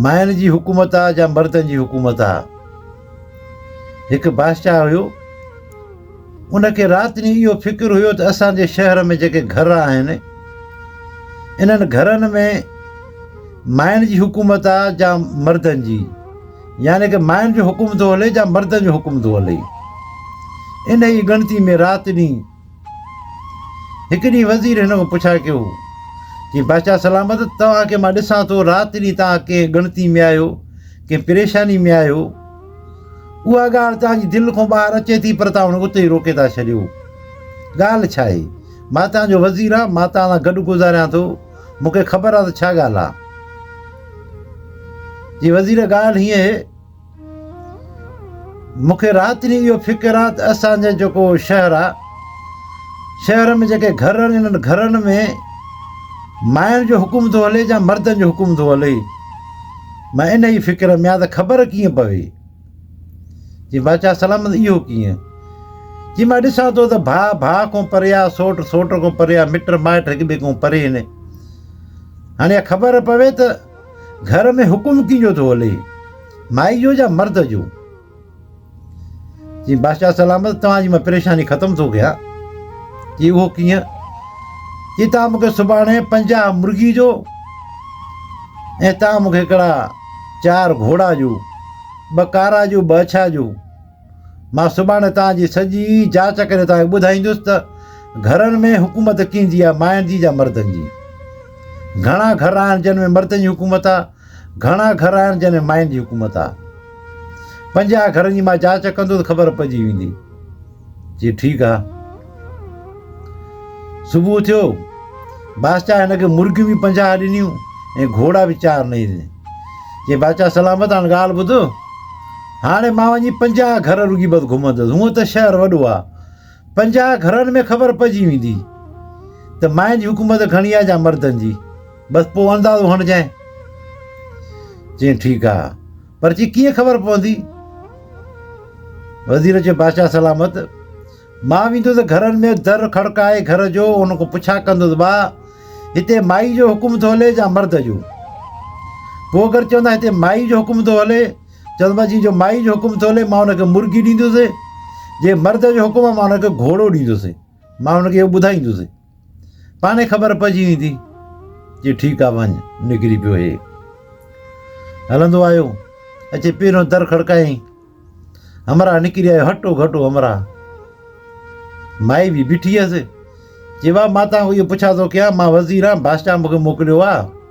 ماين جي حڪومت آ جا مردن جي حڪومت آ. هڪ بادشاهه هيو. ان کي رات ڏينهن اهو فڪر هيو ته اسان جي شهر ۾ جيڪي گهر آهن انهن گهرن ۾ ماين جي حڪومت آ جا مردن جي يعني ڪه ماين جو حڪم ٿو هلي جا مردن جو حڪم ٿو هلي. انهيء ڳڻتي ۾ رات ڏينهن هڪ ڏينهن وزير هن کان پڇا ڪيو، چي، بادشاهه سلامت، توهان کي مان ڏسان ٿو، رات ڏينهن توهان ڪنهن ڳڻتي ۾ آهيو، ڪنهن پريشاني ۾ آهيو. اها ڳالهه توهان جي دل کان ٻاهر اچي ٿي، پر توهان ان کي اتي ئي روڪي ٿا ڇڏيو. ڳالهه ڇا آهي؟ مان توهان جو وزير آهيان، مان توهان سان گڏ گذاريان ٿو، مون کي خبر آهي ته ڇا ڳالهه آهي. چي، وزير ڳالهه هيئن اهي. مون کي رات ڏينهن اهو فڪر آ ته اسان جو جيڪو شهر آ، شهر ۾ جيڪي گهر آهن انهن گهرن ۾ ماين جو حڪم ٿو هلي يا مردن جو حڪم ٿو هلي. مان ان ئي فڪر ۾ آ ته خبر ڪيئن پوي. جي بادشاهه سلامت اهو ڪيئن؟ جي مان ڏسان ٿو ته ڀاء ڀاء کان پري آ، سوٽ سوٽ کان پري آ، مٽ مائٽ هڪ ٻئي کان پري آهن. هاڻي اها خبر پوي ته گهر ۾ حڪم ڪنهن جو ٿو هلي، مائي جو يا مرد جو؟ چيائين بادشاهه سلامت توهان جي مان پريشاني ختم ٿو ڪيان. چي اهو ڪيئن؟ چي توهان مون کي سڀاڻي پنجاهه مرغي جو ۽ توهان مون کي هڪڙا چار گهوڙا جو، ٻه ڪارا جو ٻه اڇا جو، مان سڀاڻي توهان جي سڄي جاچ ڪري توهان کي ٻڌائيندس ته گهرن ۾ حڪومت ڪنهن جي آهي ماين جي يا مردن جي؟ گهڻا گهر آهن جن ۾ مردن جي حڪومت آهي گهڻا گهر آهن جن ۾ ماين جي حڪومت آهي پنجاهه گهرن جي مان جاچ ڪندس خبر پئجي ويندي جي ٺيڪ آهي صبح ٿيو، بادشاهه هن کي مرغيون به پنجاهه ڏنيون ۽ گهوڙا به چار نئي ڏني. چي بادشاهه سلامت هاڻ ڳالهه ٻڌ، هاڻي مان وڃي پنجاهه گهر رڳي بس گهمندس، هونء ته شهر وڏو آ، پنجاهه گهرن ۾ خبر پئجي ويندي ته مائن جي حڪومت گهڻي آ جا مردن جي، بس پوء اندازو هڻجانء. چيائين ٺيڪ آ، پر چي ڪيئن خبر پوندي؟ وزير چيو بادشاهه سلامت! مان ويندس گهرن ۾ در کڙڪائي گهر جو ان کان پڇا ڪندس ڀا هتي مائي جو حڪم ٿو هلي يا مرد جو پوء اگر چوندا هتي مائي جو حڪم ٿو هلي چوندو مانسي جو مائي جو حڪم ٿو هلي مان ان کي مرغي ڏيندس جي مرد جو حڪم مان ان کي گهوڙو ڏيندس مان ان کي اهو ٻڌائيندس پاڻهي خبر پئجي ويندي جي ٺيڪ آ وڃ نڪري پيو هي هلندو آيو اچي پيرو در کڙڪائي همرا نڪري آيو هٽو گهٽو همرا مائي به بيٺي هيس جي وا ماتا هو پڇا ٿو ڪيا مان وزير آ بادشاهه مونکي موڪليو آ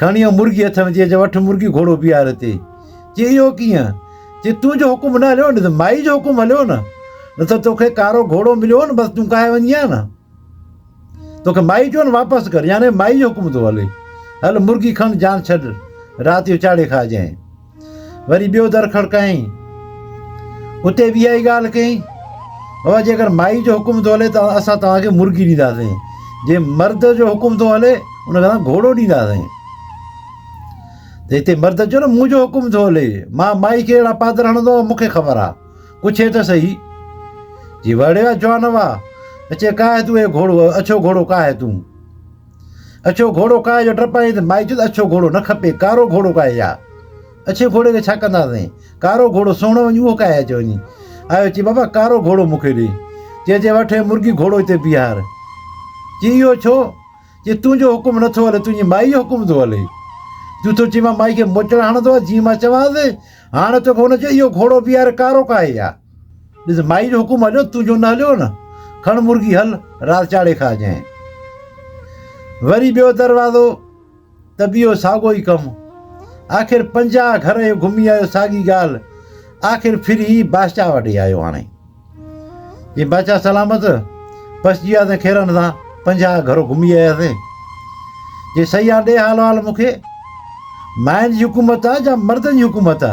کڻي او مرگي هٿ ۾ چئي چئي وٺ مرگي گهوڙو بيهار تي چئي اهو ڪيئن چئي تنهنجو حڪم نه هليو نه ته مائي جو حڪم هليو نه نه ته توکي ڪارو گهوڙو مليو هو نه بس تون ڪاهي وڃي هان نه توکي مائي چيو نه واپس ڪر يعنی مائي جو حڪم ٿو هلي هل مرگي کڻ جان ڇڏ رات جو چاڙهي کائجانء وري ٻيو در کڙڪائين. اتي بي اها ئي ڳالهه ڪئين. بابا جيڪر مائي جو حڪم ٿو هلي ته اسان توهان کي مرغي ڏينداسين. جي مرد جو حڪم ٿو هلي ان کي اسان گهوڙو ڏينداسين. ته هتي مرد چيو نه منهنجو حڪم ٿو هلي. مان مائي کي اهڙا پادر هڻندو آهيان مون کي خبر آهي. پڇي ته صحيح. جي وڙهيو آهي جوان هوا. اچي ڪا هي تو اي گهوڙو اڇو گهوڙو ڪا هي تون. اڇو گهوڙو ڪاهي جو ڊپ آهي ته مائي چيو ته اڇو گهوڙو نه کپي، ڪارو گهوڙو ڪاهي يا. اڇي گهوڙي کي ڇا ڪنداسين؟ ڪارو گهوڙو سهڻو وڃ اهو ڪاهي اچ وڃي. آيو چي بابا ڪارو گهوڙو مون کي ڏي. چي چي وٺ هي مرگي گهوڙو هتي بيهار. چي اهو ڇو؟ چي تنهنجو حڪم نٿو هلي تنهنجي مائي جو حڪم ٿو هلي. تون ٿو چين مان مائي کي موچڙا هڻندو آهيان جيئن مان چوانس. هاڻ توکي هن چيو اهو گهوڙو بيهار ڪارو ڪاهي يا. ڏس مائي جو حڪم هليو تون جو نه هليو نه کڻ مرغي هل رات چاڙهي کاء جنهن وري ٻيو دروازو ته به اهو ساڳو ئي ڪم آخر پنجاهه گهر اهو گهمي آيو ساڳي ڳالهه آخر ڦري بادشاهه وٽ آيو هاڻي جي بادشاهه سلامت پسجي وياسين کيرن سان پنجاهه گهر گهمي آياسين جي سيان ڏي حال حال مونکي مائن جي حڪومت آ جا مردن جي حڪومت آ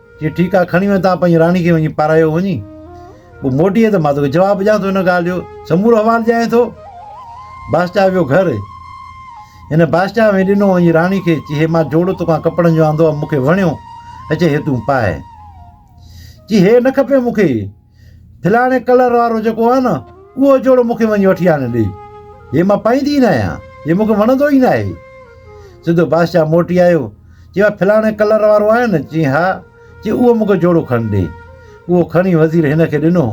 چيو ٺيڪ آ کڻي وڃ تان پنهنجي راڻي کي وڃي پارايو وڃي پوء موٽيئي ته مان توکي جواب ڏيان ٿو هن ڳالهه جو سمورو احوال ڄاڻين ٿو بادشاهه ويو گهر هن بادشاهه ۾ ڏنو وڃي راڻي کي چي هي مان جوڙو توکان ڪپڙن جو آندو آ مونکي وڻيو اچي هي تون پاء چي هي نه کپي مونکي فلاڻي ڪلر وارو جيڪو آهي نه اهو جوڙو مون کي وڃي وٺي آڻي ڏي هي ماں پائيندي ئي ناهيان هي مون کي وڻندو ئي ناهي سڌو بادشاهه موٽي آيو چيو آ فلاڻي ڪلر وارو آهي نه چي ها چي اهو مون کي جوڙو کڻي ڏي اهو کڻي وزير هن کي ڏنو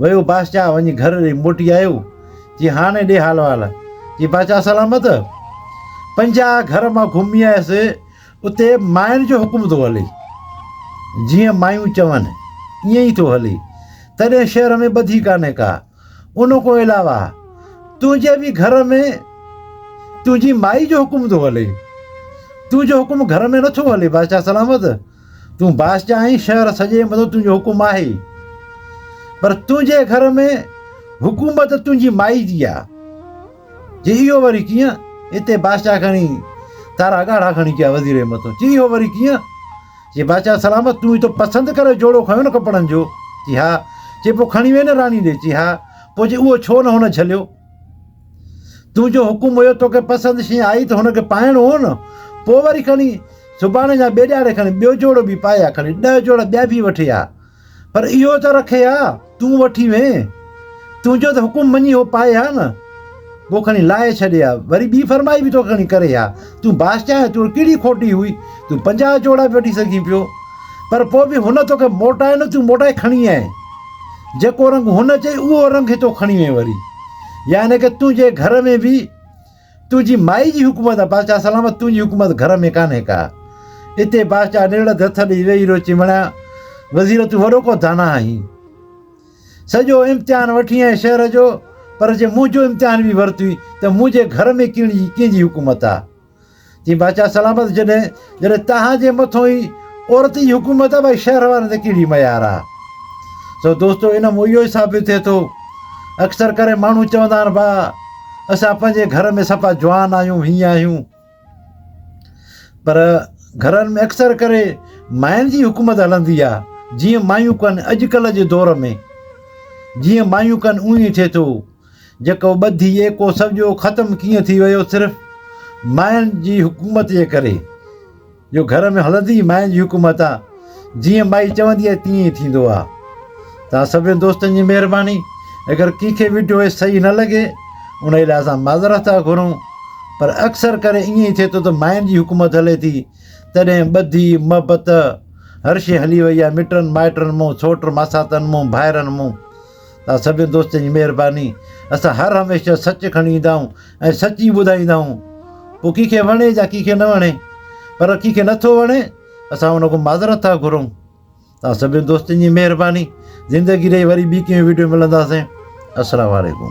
ويو بادشاهه وڃي گهر ڏي موٽي آيو چي هاڻي ڏي حال وال چي بادشاهه سلامت پنجاهه گهر مان گهمي آيس اتي ماين جو حڪم ٿو هلي، جيئن مايون چون، ائين ئي ٿو هلي، تڏهن شهر ۾ ٻڌي ڪانهي ڪا. ان کان علاوه تنهنجي به گهر ۾ تنهنجي مائي جو حڪم ٿو هلي. تنهنجو حڪم گهر ۾ نٿو هلي بادشاهه سلامت. تون بادشاهه آهين شهر سڄي مٿان تنهنجو حڪم آهي. پر تنهنجي گهر ۾ حڪومت تنهنجي مائي جي آهي. چي اهو وري ڪيئن؟ اتي بادشاهه کڻي تارا ڳاڙها کڻي پيا وزير جي مٿو چي اهو وري ڪيئن؟ چي بادشاهه سلامت تون ايتو پسند ڪري جوڙو کنيو نه ڪپڙن جو؟ چي ها چي پوء کڻي وئي نه راڻي ڏي؟ چي ها پوء چي اهو ڇو نه هن جهليو؟ تون جو حڪم هيو توکي پسند شيء آئي ته هن کي پائڻو هو نه پوء وري کڻي سڀاڻي يا ٻئي ڏهاڙي کڻي ٻيو جوڙو به پائي ها کڻي ڏهه جوڙا ٻيا به وٺي ها. پر اهو ته رکي ها، تون وٺي وين. تنهنجو ته حڪم مڃي هو پائي ها نه. پوء کڻي لاهي ڇڏي ها. وري ٻي فرمائي به توکي کڻي ڪري ها. تون بادشاهه آهين، توڙي ڪهڙي کوٽي هئي. تون پنجاهه جوڙا به وٺي سگهين پيو. پر پوء به هن توکي موٽائي نه، تون موٽائي کڻي آئين. جيڪو رنگ هن چئي، اهو رنگ هتو کڻي وين وري. يعني ڪه تنهنجي گهر ۾ به. تنهنجي مائي جي حڪومت آ. بادشاهه سلامت تنهنجي حڪومت گهر ۾ ڪانهي ڪا. اتي بادشاهه نرڙت هٿ ڏئي ويهي رهيو چيمڻيا وزير تون وڏو ڪو داناء آهين. سڄو امتحان وٺين آئين شهر جو پر جي منهنجو امتحان به ورتوئين ته منهنجي گهر ۾ ڪهڙي ڪنهنجي حڪومت آ. جي بادشاهه سلامت جڏهن جڏهن تهان جي مٿو ئي عورتي جي حڪومت آهي ڀائي شهر وارن تي ڪهڙي ميار آهي سو دوستو ان مون اهو ئي ثابت ٿئي ٿو اڪثر ڪري ماڻهو چوندا آهن با اسان پنهنجي گهر ۾ سفا جوان آهيون هيئن آهيون پر گهرن ۾ اڪثر ڪري ماين جي حڪومت هلندي آهي جيئن مايون ڪن اڄڪلهه جي دور ۾ جيئن مايون ڪن اونئي ٿئي ٿو جيڪو ٻڌي ايڪو سمجهو ختم ڪيئن ٿي ويو صرف مائن جي حڪومت جي ڪري جو گهر ۾ هلندي ئي مائن جي حڪومت آ جيئن مائي چوندي آ تيئن ئي ٿيندو آ تان سڀني دوستن جي مهرباني اگر ڪنهن کي وڊيو هي صحيح نه لڳي انهي لاء اسان معذرت ٿا گهرون پر اڪثر ڪري ائين ئي ٿئي ٿو ته مائن جي حڪومت هلي ٿي تڏهن ٻڌي محبت هر شي هلي وئي آ مٽن مائٽن مون سوٽ ماساتن مون ڀائرن مون توهان سڀني دوستن جي مهرباني. اسان هر هميشه سچ کڻي ايندا آهيون ۽ سچ ئي ٻڌائيندا آهيون پوء ڪنهن کي وڻي يا ڪنهن کي نه وڻي پر ڪنهن کي نٿو وڻي اسان ان کان معذرت ٿا گهرون توهان سڀني دوستن جي مهرباني زندگي رهي وري ٻي ڪنهن وڊيو ملنداسين السلام عليڪم